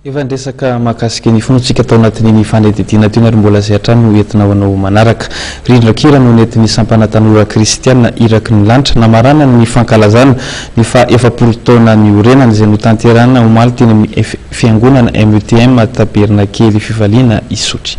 Efa niresaka mahakasika ny fonoantsika tao anatin'iny fanadihadiana teny ary mbola izay hatrany no entinao hanao manaraka. Rindran-kira no nentin'ny sampana tanora kristiana Iraky ny lanitra namaranany ny fankalazana ny faha efapolo taona niorenany izay notanterahina omaly teny amin'ny Fiangonana METM Tabernakely Fifaliana Isotry.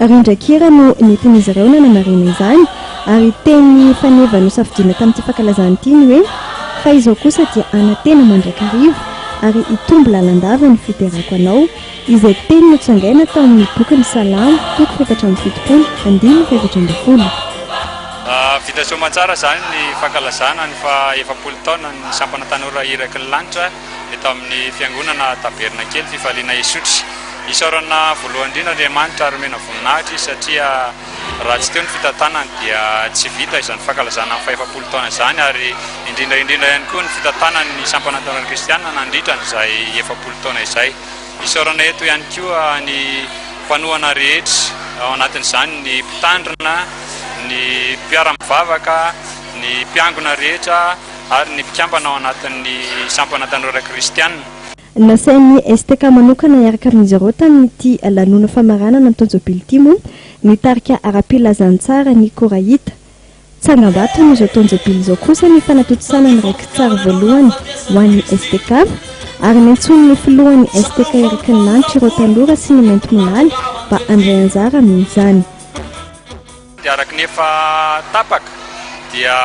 Rindran-kira no nentin'izy ireo nanamarihana izany, ary teny faneva nosafidiana tamin'ity fankalazana ity ny hoe, Fa izao kosa dia hanantena mandrakariva, ary hitombo lalandava ny fiterako anao, izay teny notsangaina tao amin'ny bokin'ny Salamo, toko efatra amby fitopolo, andininy fahaefatra ambin'ny folo. Vita soamantsara izany ny fankalazana ny faha efapolo taonan'ny sampana tanora iraky ny lanitra. eto amin'ny Fiangonana Tabernakely Fifaliana Isotry. Isaorana voalohany indrindra Andriamanitra ary omena voninahitra Izy satria raha tsy teo ny fitantanany dia tsy vita izany fankalazana ny fahefapolo taona izany ary indrindra indrindra ihany koa ny fitantanan'ny sampana ntaolana kristiana nandritra an'izay efapolo taona izay. Isaorana eto ihany koa ny mpanohana rehetra ao anatin'izany ny mpitandrina, ny mpiara-mivavaka, ny mpiangona rehetra, ary ny mpikambana ao anatin'ny sampana tanora kristiana. Nasain'ny STK manokana hiaraka amin'izy ireo tamin'ity lanonana famaranana ny taon-jobily ity moa ny tarika ara-pilazantsara Ny Koraita. Tsangambaton'izao taon-jobily izao kosa ny fanatontosana ny raiki-tsary voalohany ho an'ny STK, ary niantsoan'ny filohan'ny STK Eric Nilanitra ireo tanora sy ny maintimolaly mba handray anjara amin'izany. Dia araka ny efa tapaka dia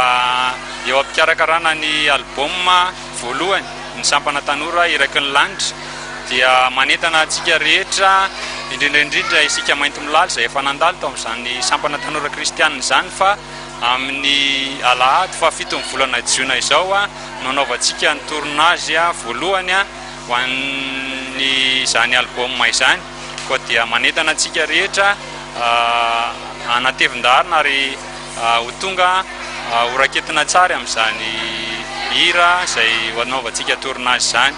eo am-pikarakarana ny album voalohany ny sampana tanora Iraky ny lanitra dia manentana antsika rehetra indrindra indrindra isika Maintimolaly izay efa nandalo tao amin'izany sampana tanora kristianina izany fa amin'ny alahady faha fito ny volana jiona izao no hanaovantsika ny tournage voalohany ho an'izany album izany. koa dia manentana antsika rehetra hanatevin-daharana ary ho tonga ho raketina tsara amin'izany hira izay ho anaovantsika tournage izany.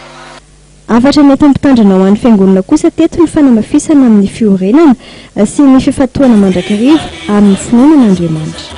Hafatra nentim-pitandrina ho an'ny Fiangonana kosa teto ny fanamafisana amin'ny fiorenana sy ny fifantohana mandrakariva amin'ny fonenan'Andriamanitra.